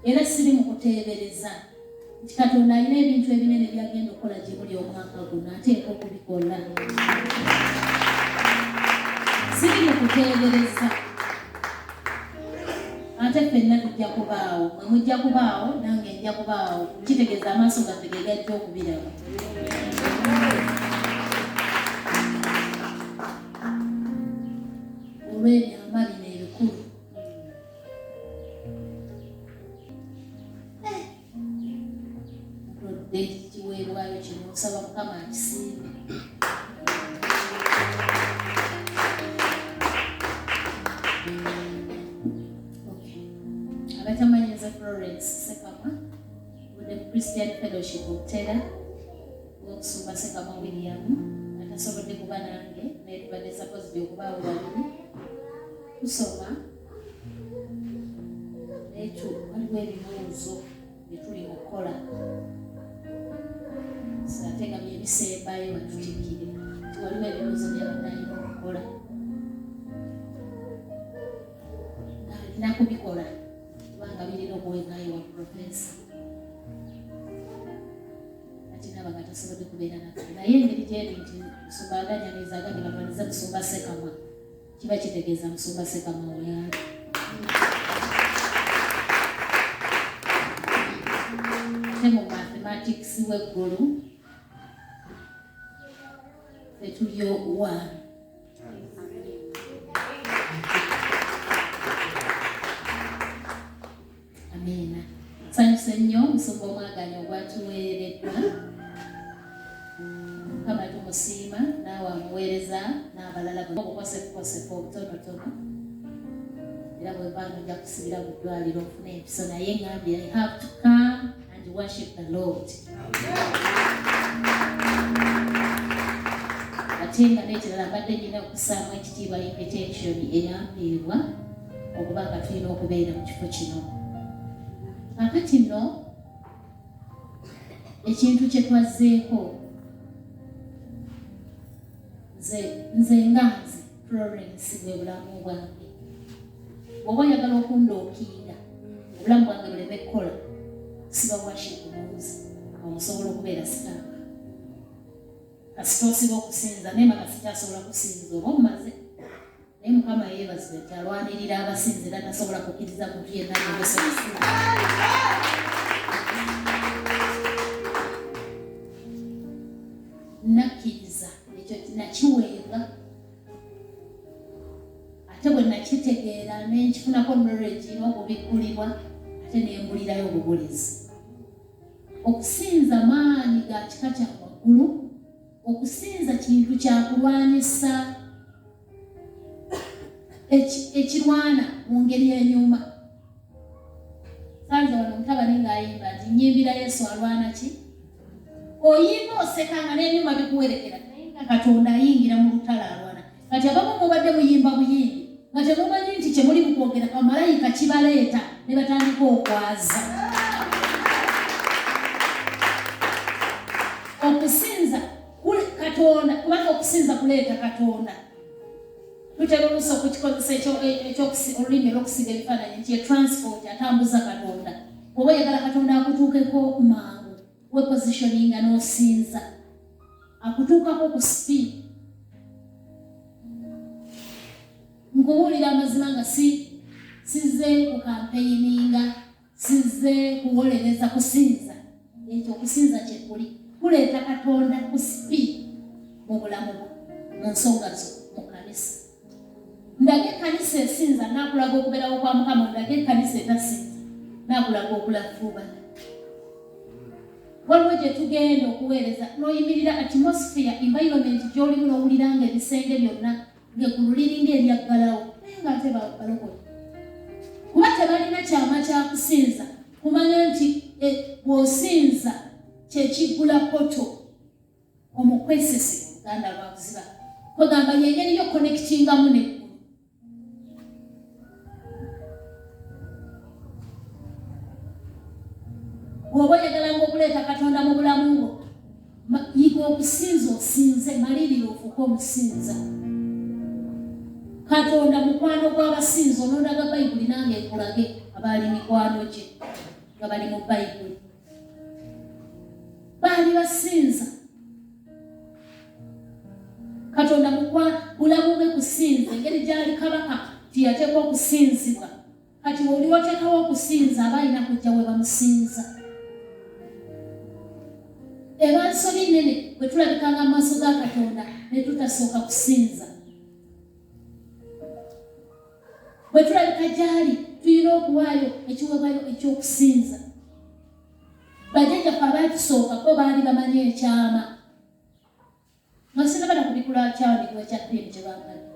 era siri mu kuteebereza nti katonda alina ebintu ebinene byagenda okukola gye muli omwaka guno ateeka okubikola siri mu kuteebereza ate fenna tujja kubaawo mwe mujja kubaawo nange nja kubaawo kitegeeza amaaso gaffe ge gajja okubiraba olw'ebyama bino ebikulu ekiweebwayo kino okusaba mukama akisiime abatamanyi nze florence sekamwa mune christian fellowship okutera okusumba sekamwa william atasobodde kuba nange naye tubadde sakozi byokubaawo babiri tusoma netu waliwo ebibuuzo byetuli mukukola satega byebisembayo batutikire waliwo ebibuuzo byabadayina okukola alina kubikola kubanga birina okuwenayo wa profesa atinabanga tasobodde kubeera naye engeri gyeri nti nsumba aganyaniza agabira baniza kusumba sekamwa kiba kitegeeza musumba sekamwa oyambi ne mu mathematics w'eggulu fetulyo wa Amiina. Nsanyuse nnyo omusumba omwaganya ogwatuweereddwa. Mukama tumusiima naawe amuweereza n'abalala obukosekukoseka obutonotono era bwevaano ojja kusibira mu ddwaliro ofuna empiso naye ngambye i have to come and worship the lord ate nga nekirala mbadde nina okusaamu ekitiibwa invitation eyampiibwa okuba nga tulina okubeera mu kifo kino kakati nno ekintu kye twazzeeko nze nze nga nze florence bwe bulamu bwange oba oyagala okundookiira obulamu bwange buleme kukola siba washi kubuuzi omusobola okubeera sitaaka kasita osiba okusinza naye maka sikyasobola kusinza oba omaze naye mukama yeebazibwe nti alwanirira abasinzi era tasobola kukkiriza muntu yenna yebesobosi nakkiriza ekyo nakiwenga ate bwe nakitegeera nenkifunako knowledge n'okubikkulibwa ate nembulirayo obubulizi okusinza maanyi ga kika kya waggulu okusinza kintu kyakulwanyisa ekirwana mu ngeri enyuma sanze wano mutabani ng'ayimba nti nyimbira yesu alwana ki oyimba oseka nga n'ebyuma bikuwerekera naye nga katonda ayingira mu lutalo alwana kati abamu mubadde muyimba buyimbi nga temumanyi nti kyemuli mukwogera bamalayika kibaleeta ne batandika okwaza okusinza katonda kubanga okusinza kuleeta katonda tutera oluusi okukikozesa olulimi olwokusiga ebifaananyi nti etransport atambuza katonda oba oyagala katonda akutuukeko mangu wepositioninga n'osinza akutuukako ku speed nkubuulira amazima nga si sizze ku kampeyininga Sizze kuwolereza kusinza, ekyo okusinza kye kuli kuleeta Katonda ku sipi mu bulamu bwo mu nsonga zo mu kanisa. Ndaga ekkanisa esinza nakulaga okubeerawo kwa Mukama, ndaga ekkanisa etasinza nakulaga okulafuubana. Waliwo gye tugenda okuweereza n'oyimirira atmosphere environment gy'olimu n'owulira nga ebisenge byonna ng'eggulu liringa eryaggalawo naye ng'ate balokole kuba tebalina kyama kya kusinza kumanya nti e, bw'osinza kyekiggula poto omukwesese oluganda lwakuziba kwegamba yengeri yo konekitingamu ne bw'oba oyagalanga okuleeta katonda mu bulamu bwo yiga okusinza osinze malirira ofuuke omusinza katonda mukwano gw'abasinza onondaga bayibuli nange ekulage abaali mikwano gye nga bali mu bayibuli baali basinza katonda mukwa bulamu bwe kusinza engeri gyali kabaka tiyateekwa okusinzibwa kati oli watekawo okusinza aba alina kujja we bamusinza eba nsobi nene bwe tulabikanga mu maaso ga katonda ne tutasooka kusinza bwe tulabika gyali tulina okuwaayo ekiweebwayo eky'okusinza bajjajjaffe abaatusooka bo baali bamanyi ekyama nga sinabana kubikula kyandikwa ekya pini kye bambadde